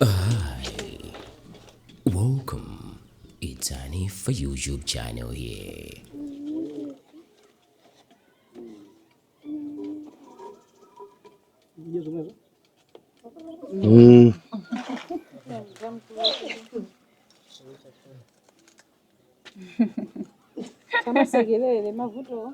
Hi, welcome. It's Annie for YouTube channel here. Mm. kama segelele mavuto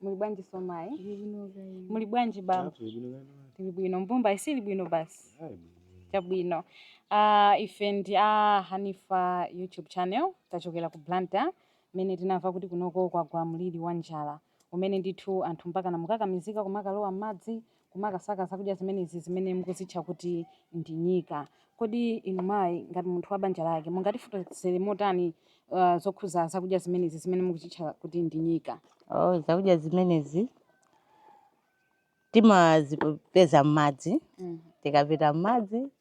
Muli bwanji nzimayi? Muli bwanji bambo? Tili bwino. Mbumba ili bwino basi. Chabwino. Ah, ife ndi a Hanifa YouTube channel tachokera ku Blantyre mmene tinamva kuti kunoko kwagwa mliri wa njala umene ndithu anthu mpaka mukukakamizika kumakalowa m'madzi kumakasaka zakudya zimenezi zimene mukuzitcha kuti ndi nyika. Kodi inu mayi, ngati munthu wa banja lake, mungatifotokozere motani uh, zokhuza zakudya zimenezi zimene mukuzitcha kuti ndi nyika? Oh, zakudya zimenezi timazipeza m'madzi. Mm. Tikapita m'madzi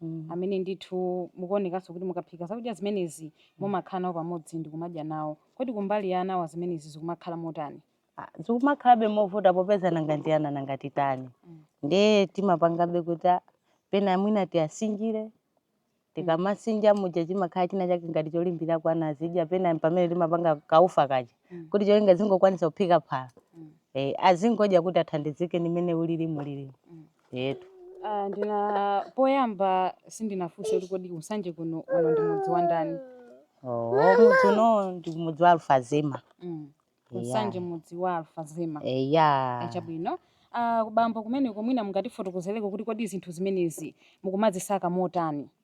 mm. amene ndithu mukuonekanso kuti mukaphika zakudya zimenezi mm. mumakhala nawo pamodzi ndi kumadya nawo kodi kumbali anawa zimenezi zikumakhala motani ah, zikumakhalabe movuta popeza nanga nti ana nanga titani mm. ndiye timapangabe kuti ah, pena mwina tiyasinjire tikamasinja muja chimakhala china chake ngati cholimbira kwa ana kudya pena pamene timapanga kaufa kaja mm. kuti cholinga zingokwanisa kuphika phala mm. eh, azingodya kuti athandizike ndi mmene zilili mulili mm. Etu. Ah, ndina poyamba sindinafunse kuti kodi ku Nsanje kuno uno ndi mudzi wa ndani Oh, mudzi uno ndi mudzi wa Alfazema mm. ku Nsanje Yeah. mudzi wa Alfazema eya chabwino ah, kubambo kumeneko mwina mungatifotokozereko kuti kodi zinthu zimenezi mukumazisaka motani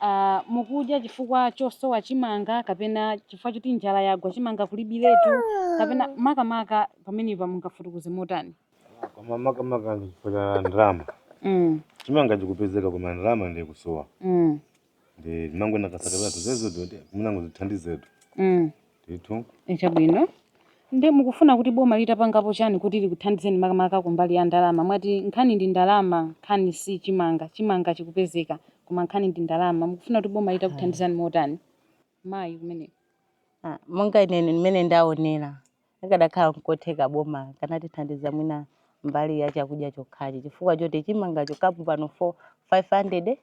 a mukudya chifukwa chosowa chimanga kapena chifukwa choti njala yagwa chimanga kulibiretu kapena makamaka pamenepa mungafotokoze motani koma makamaka ndi chifukwa cha ndalama mm, chimanga chikupezeka koma ndalama ndiye kusowa mm, ndi timangokasaka zimenezo kuti tingodzithandizatu mm. ndithu Chabwino. Nde mukufuna kuti boma litapangapo chani kuti likuthandizeni makamaka kumbali ya ndalama? Mwati nkhani ndi ndalama nkhani si chimanga, chimanga chikupezeka koma nkhani ndi ndalama. Mukufuna kuti boma litakuthandizani motani? Mayi kumeneko. Ah, monga ine mmene ndaonera akadakhala nkotheka boma likanatithandiza mwina mbali ya chakudya chokhachi chifukwa choti chimangacho kapu pano 4 500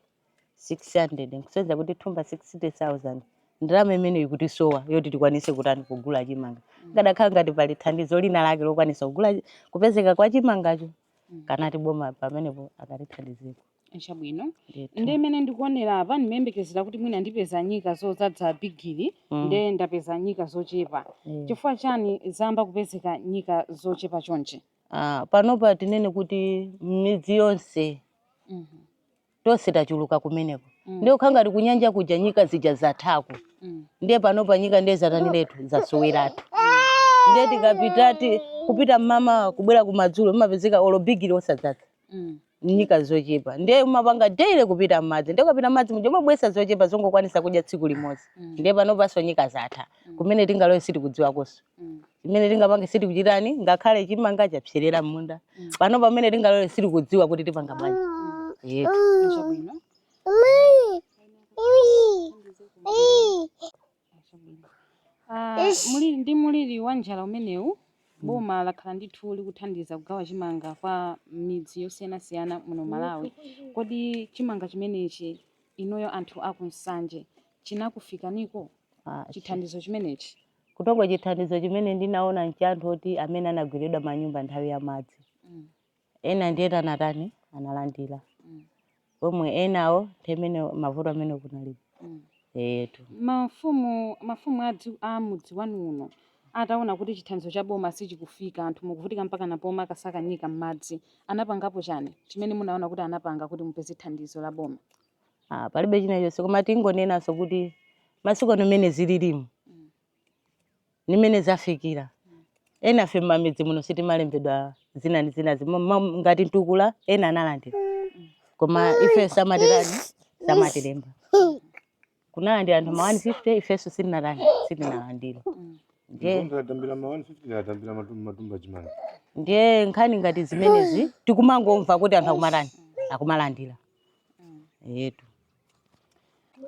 600 nkusonyeza kuti thumba 60000 ndalama imene ikutisowa yoti tikwanise kutani kugula chimanga akadakhala ngati pali thandizo lina lake lokwanisa kugula kupezeka kwa chimangacho kunena kuti boma pamenepo akatithandizeko chabwino Ndithu. nde mmene ndikuonera apa ndimayembekezera kuti mwina ndipeza nyika zodzadza bigiri Mm. nde ndapeza nyika zochepa Eh. chifukwa chani zayamba kupezeka nyika zochepa chonchi Ah, panopa tinene kuti m'midzi yonse Mhm. tonse tachuluka kumeneko mm. ndiye kukhala ngati kunyanja kuja nyika zija zathako mm. ndiye panopa nyika ndiye zataniretu zasoweratu mm. ndiye tikapitati kupita m'mamawa kubwera kumadzulo mumapezeka olo bigiri osadzadza mm. nyika zochepa ndiye umapanga daily kupita mmadzi ndiye ukapita mmadzi muja umabweretsa zochepa zongokwanisa kudya tsiku limodzi mm. ndiye panopanso nyika zatha mm. kumene tingalowe sitikudziwakonso Mm. chimene tingapange sitikuchitani ngakhale chimanga chapserera m'munda Mm. pano pamene tingalowe sitikudziwa kuti tipanga bwanji eetu Chabwino. Ah, ndi mliri wa njala umenewu boma lakhala ndithu likuthandiza kugawa chimanga kwa midzi yosiyanasiyana muno malawi kodi chimanga chimenechi inuyo anthu aku nsanje chinakufikaniko Ah, chithandizo chimenechi Kutoko chithandizo chimene ndinaona ncha anthu oti amene anagweredwa manyumba nthawi ya madzi. Mm. Ena ndiye anatani analandira. Mm. Pomwe enawo nthemene mavuto amene kunalipo. Mm. Etu. Mafumu mafumu a mudzi wanu uno ataona kuti chithandizo cha boma sichikufika anthu mukuvutika mpaka napoma akasaka nyika m'madzi anapangapo chani chimene munaona kuti anapanga kuti mupeze thandizo la boma? ah, palibe china chonse koma tingonenanso kuti masiku ano mmene zililimu ndi mmene zafikira enafe mmamidzi muno sitimalembedwa zina ndi zina zimo- ma- ngati mtukula ena analandira koma ife samatitani samatilemba kunalandira anthu ma 150 ifenso sitinalandi sitinalandira ndiye nkhani ngati zimenezi tikumangomva kuti anthu akumatani akumalandira etu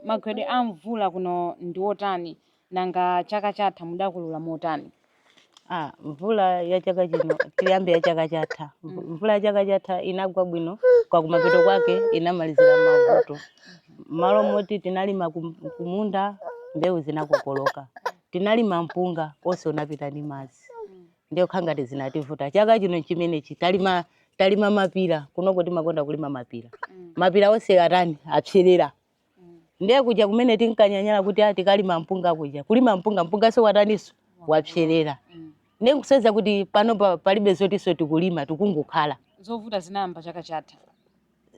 magwedwe a mvula kuno ndi otani nanga chaka chatha mudakolola motani Ah, mvula ya chaka chino tiyambe ya chaka chatha Mvu- mvula ya chaka chatha inagwa bwino kwa kumapeto kwake inamalizira mavuto mmalo moti tinalima kum- kumunda mbewu zinakokoloka tinalima mpunga onse unapita ndi madzi ndiye kukhala ngati zinativuta chaka chino nchimenechi talima talima mapira kunoko timakonda kulima mapira mapira onse atani apserera ndiye kuja kumene tinkanyanyala kuti ah, tikalima mpunga kuja kulima mpunga mpunganso wataniso wapserera ndiye kuonetsa kuti pano pa- palibe zotinso tikulima tikungokhala zovuta zinayamba chaka chatha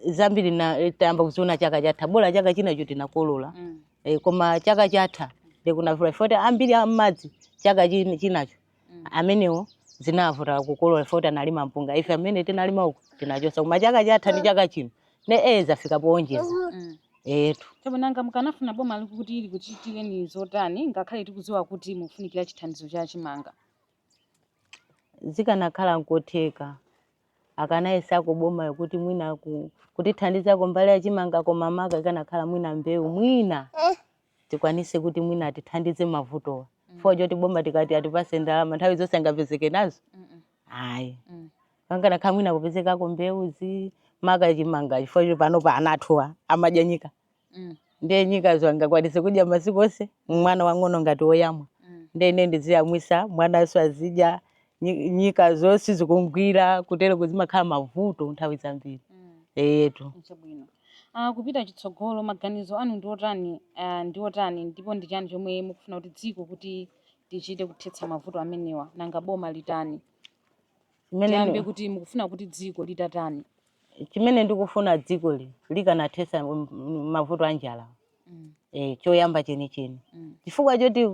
zambiri na- eh, tayamba kuziona chaka chatha bola chaka chinacho tinakolola Mm. eh, koma chaka chatha kunavuta oti ambiri ammadzi chaka chin- chinacho mm. amenewo zinavuta kukolola oti analima mpunga ife amene tinalima uku tinachosa koma chaka chatha ndi chaka chino ne e zafika poonjeza mm. etu chabwino nanga mukanafuna boma likuti likuchitireni zotani ngakhale tikuziwa kuti mufunikira chithandizo cha chimanga zikanakhala nkotheka akanayesako boma yokuti mwina kutithandizako mbali ya chimanga koma maka ikanakhala mwina mbewu mwina eh. tikwanise kuti mwina atithandize mavutowa chifukwa choti boma tikati atipase ndalama nthawi zonse angapezeke nazo ayi Mm. pakanakhala mwina kupezekako mbewu maka chimanga chifukwa choti panopa ana athuwa amadya nyika Mm. ndiye nyikazo angakwanise kudya masiku onse mwana wang'ono ngati woyamwa Mm. ndiye ine ndiziyamwisa mwanaso azidya nyi- nyikazo zonse zikumgwira kutereko zimakhala mavuto nthawi zambiri Mm. eyetu chabwino uh, kupita chitsogolo maganizo anu ndi otani uh, ndi otani ndipo ndi chani chomwe mukufuna kuti dziko kuti tichite kuthetsa mavuto amenewa nanga boma litani tiyambe ndi- kuti mukufuna kuti dziko litatani chimene ndikufuna dzikoli likanathetsa m- m- mavuto a njala mm. e, choyamba chenicheni mm. chifukwa choti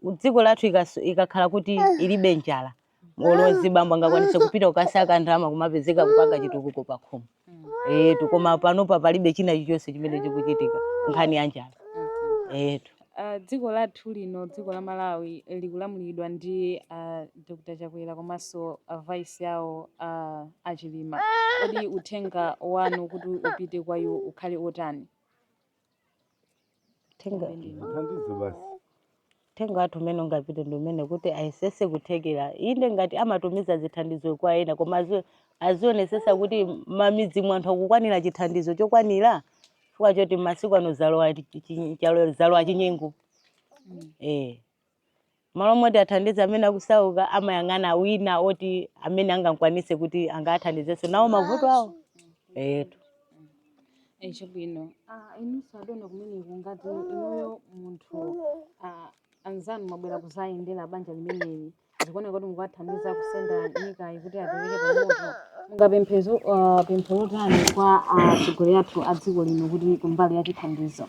dziko lathu ikakhala kuti ah. ilibe njala olozi bambo angakwanise kupita kukasaka ndalama kumapezeka kupanga chitukuko pakhomo mm. eyetu eh, koma panopa palibe china chilichonse chimene chikuchitika nkhani ya njala mm-hmm. eyetu eh, ah, dziko lathu lino dziko la Malawi likulamulidwa ndi ah, Dr. Chakwera komanso a vice awo a Chilima kodi uthenga wanu kuti upite kwa iwo ukhale otani Tenga Mthandize basi. uthenga wathu umene ungapite ndi womwe kuti ayesese kuthekera, inde ngati amatumiza zithandizo kwa ena koma azi- azionesesa kuti mmamidzi mwa anthu akukwanira chithandizo chokwanira chifukwa choti masiku ano zalowa chi- chi- chalo- zalowa chinyengo eh M'malo moti athandize amene akusauka amayang'ana wina woti amene angamkwanise kuti angathandizenso nawo mavuto awo. Eyetu. Eh, chabwino ah, inunso adona kumeneko ngati inuyo munthu ah, anzanu mwabwera kuzayendera banja limeneli zikuoneka kuti mukuwathandiza kusenda nyikayi kuti apereke pamoto mungapemphenso ah, pempho lotani kwa atsogoleri athu a dziko lino kuti kumbali ya chithandizo